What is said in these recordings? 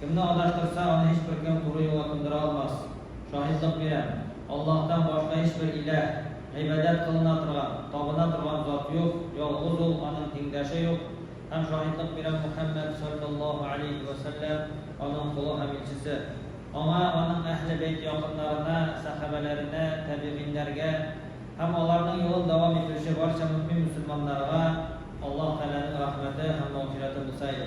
Кемне адаштырса, аны һичбер кем туры юлга кундыра алмас. Шаһитлык бирәм, Аллаһтан башка һичбер иләһ, гыйбадәт кылына торган, табына торган зат юк, ялгыз ул, аның тиңдәше юк, һәм шаһитлык бирәм, Мөхәммәд, салләллаһу галәйһи вә сәлләм, аның колы һәм илчесе. Аңа, аның әһле бәйт якыннарына, сәхабәләренә, тәбигыйньнәргә һәм аларның юлын дәвам итүче барча мөэмин мөселманнарга Аллаһ Тәгаләнең рәхмәте һәм мәгъфирәте булса иде.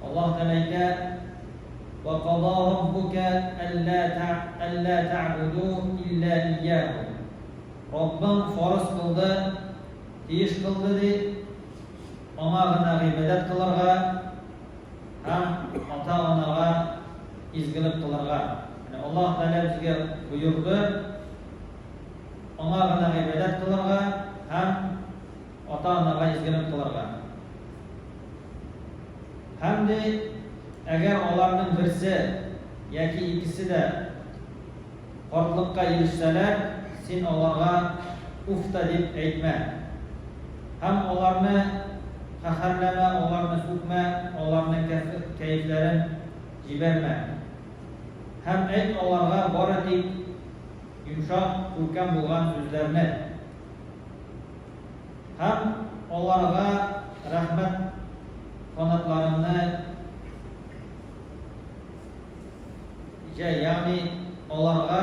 Аллаһ Тәгалә әйтә, Вә када раббука әллә әллә тәгъбуду илля ияһу. Раббың фарыз кылды, тиеш кылды ди, аңа гына гыйбадәт кылырга һәм ата-анага изгелек кылырга. Яни Аллаһ Тәгалә безгә боерды, аңа гына гыйбадәт кылырга һәм Ата-анага изгелек кылырга. Һәм дә әгәр аларның берсе яки икесе дә картлыкка ирешсәләр, син аларга уф та дип әйтмә. Һәм аларны каһәрләмә, аларны сүкмә, аларның кәефләрен җибәрмә. Һәм әйт аларга бары тик йомшак, күркәм булган сүзләрне. Һәм аларга рәхмәт канатларымны җәй, ягъни аларга,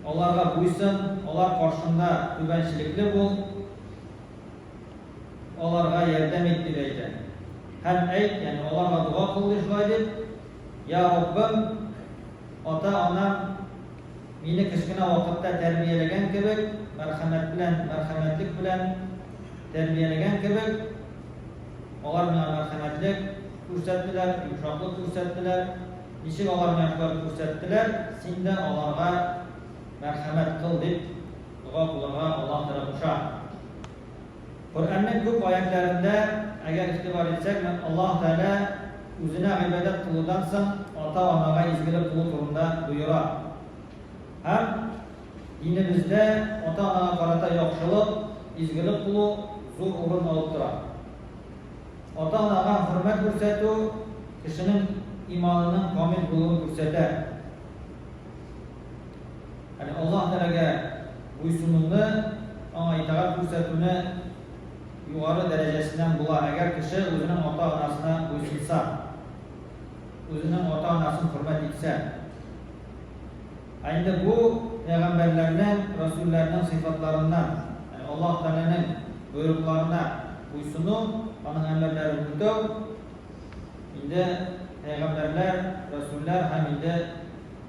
аларга буйсын, алар каршында түбәнчелекле бул, аларга ярдәм ит, дип әйтә. Һәм әйт, ягъни аларга дога кыл, ди, шулай дип, Йә, Раббым, ата-анам, Мине кечкенә вакытта тәрбияләгән кебек, мәрхәмәт белән, мәрхәмәтлек белән тәрбияләгән кебек, алар миңа мәрхәмәтлек күрсәттеләр, йомшаклык күрсәттеләр. Ничек алар миңа шулай күрсәттеләр, син дә аларга мәрхәмәт кыл, дип дога кылырга Аллаһ Тәгалә куша. Коръәннең күп аятьләрендә, әгәр игътибар итсәкме, Аллаһ Тәгалә Үзенә гыйбадәт кылудан соң ата-анага изгелек кылу турында боера. Һәм динебездә ата-анага карата яхшылык, изгелек кылу зур урын алып тора. Ата-анага хөрмәт күрсәтү кешенең иманының камил булуын күрсәтә. Ягъни Аллаһ Тәгаләгә буйсынуны, Аңа итагать күрсәтүне югары дәрәҗәсеннән була, әгәр кеше үзенең ата-анасына буйсынса, үзенең ата-анасын хөрмәт итсә. Ә инде бу пәйгамбәрләрнең, рәсүлләрнең сыйфатларыннан, ягъни Аллаһ Тәгаләнең боерыкларына буйсыну, Аның әмерләрен үтәү, инде пәйгамбәрләр, рәсүлләр һәм инде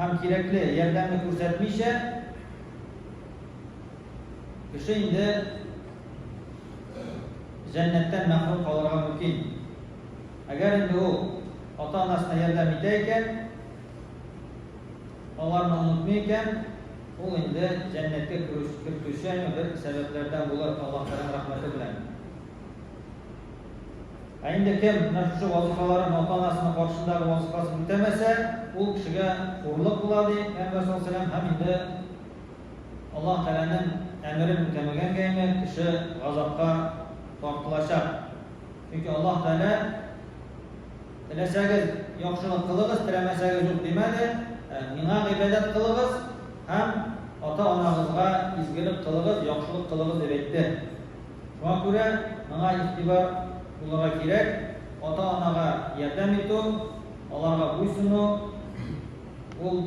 һәм кирәкле ярдәмне күрсәтмичә, кеше инде җәннәттән мәхрүм калырга мөмкин. Әгәр инде ул ата-анасына ярдәм итә икән, аларны онытмый икән, ул инде җәннәткә кертүче бер сәбәпләрдән булыр, Аллаһ Тәгаләнең рәхмәте белән. Ә инде кем менә шушы вазыйфаларын ата-анасының каршындагы вазыйфасын үтәмәсә, ул кешегә хурлык була, ди Пәйгамбәр саллаллаһу галәйһи ва сәлләм, һәм инде Аллаһы Тәгаләнең әмерен үтәмәгәнгә инде кеше газапка тартылачак. Чөнки Аллаһы Тәгалә, Теләсәгез, яхшылык кылыгыз, теләмәсәгез, юк димәде, ә, Миңа гыйбадәт кылыгыз һәм ата-анагызга изгелек кылыгыз, яхшылык кылыгыз, дип әйтте. Шуңа күрә моңа игътибар булырга кирәк, ата-анага ярдәм итү, аларга буйсыну, ул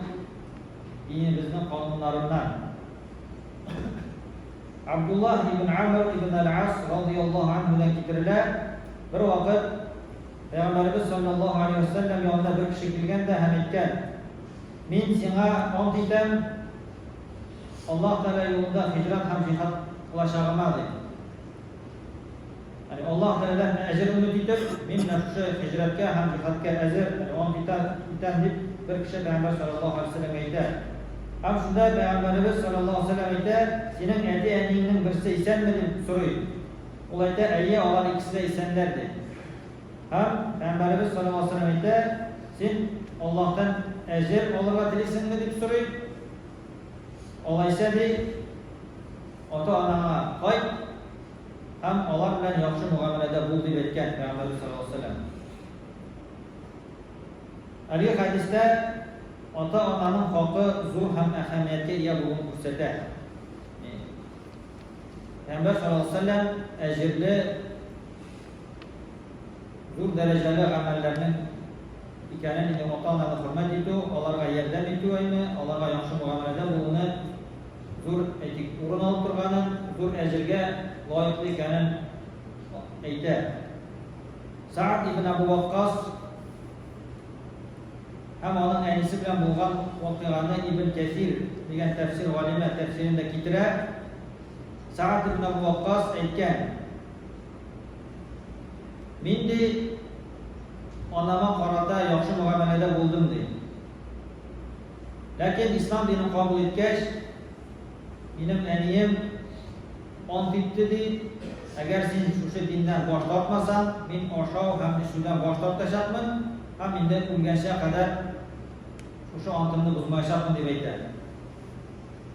динебезнең кануннарыннан. Абдуллаһ ибн Амр ибн әл-Ас разыйаллаһу анһудан китерелә, бервакыт Пәйгамбәребез салләллаһу галәйһи вә сәлләм янына бер кеше килгән дә һәм әйткән, Мин сиңа ант итәм, Аллаһ Тәгалә юлында һиҗрәт һәм җиһад кылачагыма, ди. Яни Аллаһ Тәгаләдән әҗер өмет итеп, мин менә шушы һиҗрәткә һәм җиһадка әзер, яни ант итәм, итәм, дип бер кеше Пәйгамбәр салләллаһу алейһи вә сәлләмгә әйтә. Һәм шунда Пәйгамбәребез салләллаһу алейһи вә сәлләм әйтә, Синең әти-әниеңнең берсе исәнме? дип сорый. Ул әйтә, Әйе, алар икесе дә исәннәр, ди. Һәм Пәйгамбәребез салләллаһу галәйһи ва сәлләм әйтә, Син Аллаһтан әҗер алырга телисеңме? дип сорый. Алайса, ди, ата-анаңа кайт һәм алар белән яхшы мөгамәләдә бул, дип әйткән Пәйгамбәребез салләллаһу галәйһи ва сәлләм. Әлеге хәдистә ата-ананың хакы зур һәм әһәмияткә ия булуын күрсәтә. Пәйгамбәр салләллаһу галәйһи ва сәлләм әҗерле зур дәрәҗәле гамәлләрнең икәнен инде ата-ананы хөрмәт итү, аларга ярдәм итү айны, аларга яхшы мөгамәләдә булуны зур, әйтик, урын алып торганын, зур әҗергә лаеклы икәнен әйтә. Сәгъд ибн Әбү Ваккас һәм аның әнисе белән булган вакыйганы Ибн Кәсир дигән тәфсир галиме тәфсирендә китерә. Сәгъд ибн Әбү Ваккас әйткән, Нинди анама карата яхшы мөгамәләдә булдым, ди. Ләкин ислам динен кабул иткәч, минем әнием ант итте, ди, әгәр син шушы диннән баш тартмасаң, мин ашау һәм эчүдән баш тартачакмын һәм инде үлгәнчә кадәр шушы антымны бозмаячакмын, дип әйтә.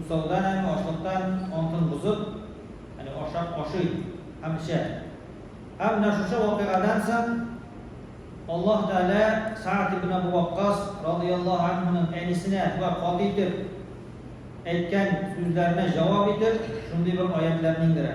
Усалдан һәм ачлыктан антын бозып, әнә ашап ашый һәм эчә. Һәм менә шушы вакыйгадан соң Аллаһ Тәгалә Сәгъд ибн Әбү Ваккас радыйяллаһу әнһүнең әнисенә шулай каты итеп әйткән сүзләренә җавап итеп, шундый бер аятьләрне иңдерә.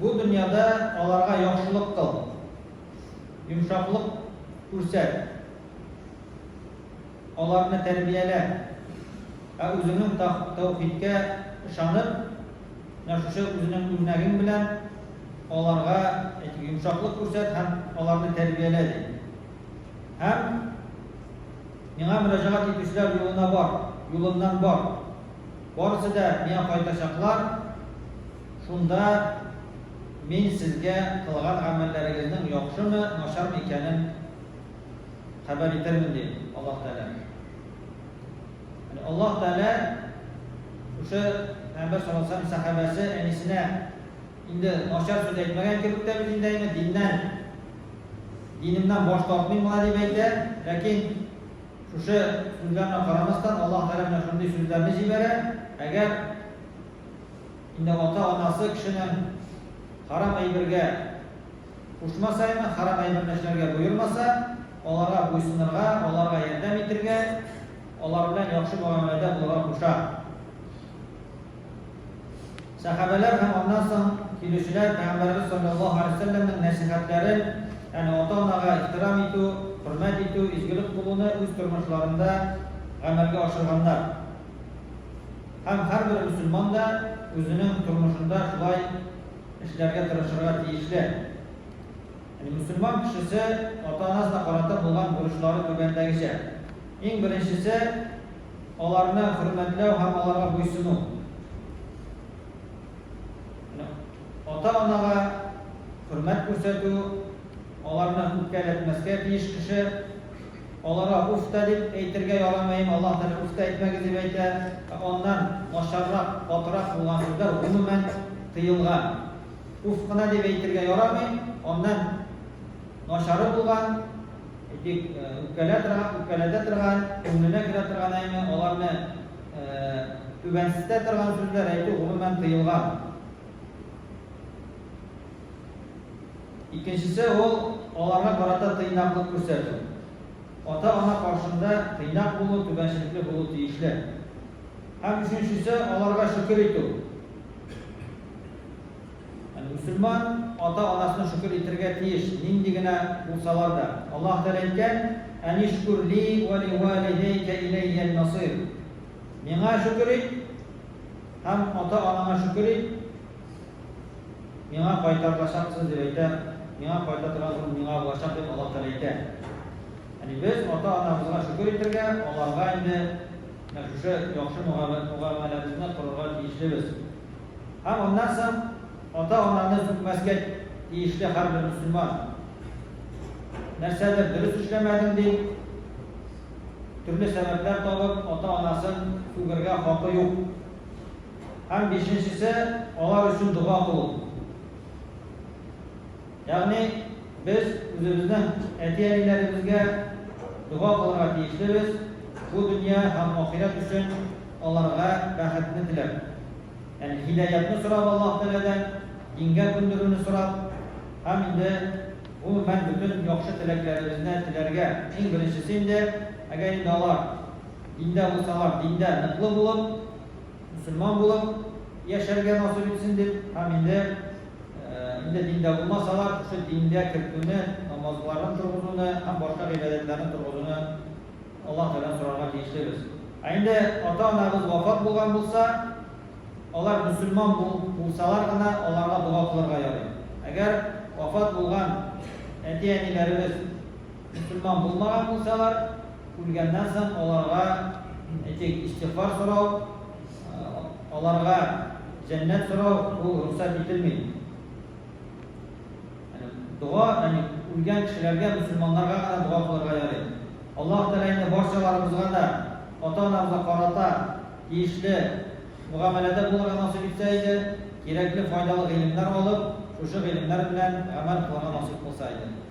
Бу дөньяда аларга яхшылык кыл, йомшаклык күрсәт, аларны тәрбиялә. Ә үзеңнең таухидкә ышанып, менә шушы үзеңнең үрнәгең белән аларга йомшаклык күрсәт һәм аларны тәрбиялә, ди. Һәм Миңа мөрәҗәгать итүчеләр юлына бар, юлымнан бар. Барысы да Миңа кайтачаклар. Шунда мин сезгә кылган гамәлләрегезнең яхшымы, начармы икәнен хәбәр итермен, ди Аллаһ Тәгалә. Ягъни Аллаһ Тәгалә шушы Пәйгамбәр саллаллаһу галәйһи ва сәлләм сәхабәсе әнисенә инде начар сүз әйтмәгән кебек тә бит инде әни, диннән, динемнән баш тартмыйм болай дип әйтә. Ләкин шушы сүзләренә карамастан, Аллаһ Тәгалә менә шундый сүзләрне җибәрә, әгәр, Инде ата-анасы кешенең харам әйбергә кушма саена, харам әйберне эшләргә боермаса, аларга буйсынырга, аларга ярдәм итергә, алар белән яхшы мөгамәләдә булырга куша. Сәхабәләр һәм аннан соң килүчеләр Пәйгамбәребез салләллаһу алейһи ва сәлләмнең нәсыйхәтләрен, ягъни ата-анага ихтирам итү, хөрмәт итү, изгелек кылуны үз тормышларында гамәлгә ашырганнар. Һәм һәрбер мөселман да үзенең тормышында шулай эшләргә тырышырга тиешле. Яни мөселман кешесе ата-анасына карата булган бурычлары түбәндәгечә. Иң беренчесе, аларны хөрмәтләү һәм аларга буйсыну. Яни ата-анага хөрмәт күрсәтү, аларны үпкәләтмәскә тиеш кеше. Аларга уф та дип әйтергә ярамаен Аллаһ Тәгалә уф та әйтмәгез дип әйтә, ә аннан начаррак, катырак булган сүзләр гомумән тыелган. Уф кына дип әйтергә ярамый, аннан начары булган, әйтик, үпкәлә торган, үпкәләтә торган, күңеленә керә торган әйме, аларны түбәнсетә торган сүзләр әйтү гомумән тыелган. Икенчесе ул, аларга карата тыйнаклык күрсәтү. Ата-ана каршында тыйнак булу, түбәнчелекле булу тиешле. Һәм өченчесе, аларга шөкер итү. Ягъни мөселман ата-анасына шөкер итәргә тиеш, нинди генә булсалар да. Аллаһ Тәгалә әйткән, Әнишкүр ли вә ли вәлидәйкә иләййәл масыйр. Миңа шөкер ит һәм ата-анаңа шөкер ит, Миңа кайтарылачаксыз дип әйтә, миңа кайта торган ул миңа булачак дип Аллаһ Тәгалә әйтә. Яни без ата-анабызга шөкер итергә, аларга инде менә шушы яхшы мөгамәләбезне кылырга тиешлебез. Һәм аннан соң ата-ананы сүкмәскә тиешле һәрбер мөселман. Нәрсәдер дөрес эшләмәдем дип, төрле сәбәпләр табып, ата-анасын сүгергә хакы юк. Һәм бишенчесе, алар өчен дога кылу. Ягъни без үзебезнең әти-әниләребезгә дога кылырга тиешлебез, бу дөнья һәм ахирәт өчен аларга бәхетне теләп. Ягъни һидаятны сорап Аллаһ Тәгаләдән, дингә күндерүне сорап һәм инде, гомумән, бөтен яхшы теләкләребезне теләргә. Иң беренчесе инде, әгәр инде алар диндә булсалар, диндә ныклы булып, мөселман булып яшәргә насыйп итсен дип һәм инде инде диндә булмаса да, шушы дингә кертүне, намазларын торгызуны һәм башка гыйбадәтләрне торгызуны Аллаһ Тәгаләдән сорарга тиешлебез. Ә инде ата-анабыз вафат булган булса, алар мөселман булсалар гына аларга дога кылырга ярый. Әгәр вафат булган әти-әниләребез Мөселман булмаган булсалар, үлгәннән соң аларга, әйтик, истигъфар сорау, аларга җәннәт сорау, бу рөхсәт ителми. Дога, ягъни үлгән кешеләргә, мөселманнарга гына дога кылырга ярый. Аллаһ Тәгалә инде барчаларыбызга да ата-анабызга карата тиешле мөгамәләдә булырга насыйп итсә иде, кирәкле, файдалы гыйлемнәр алып, шушы гыйлемнәр белән гамәл кылырга насыйп кылса иде.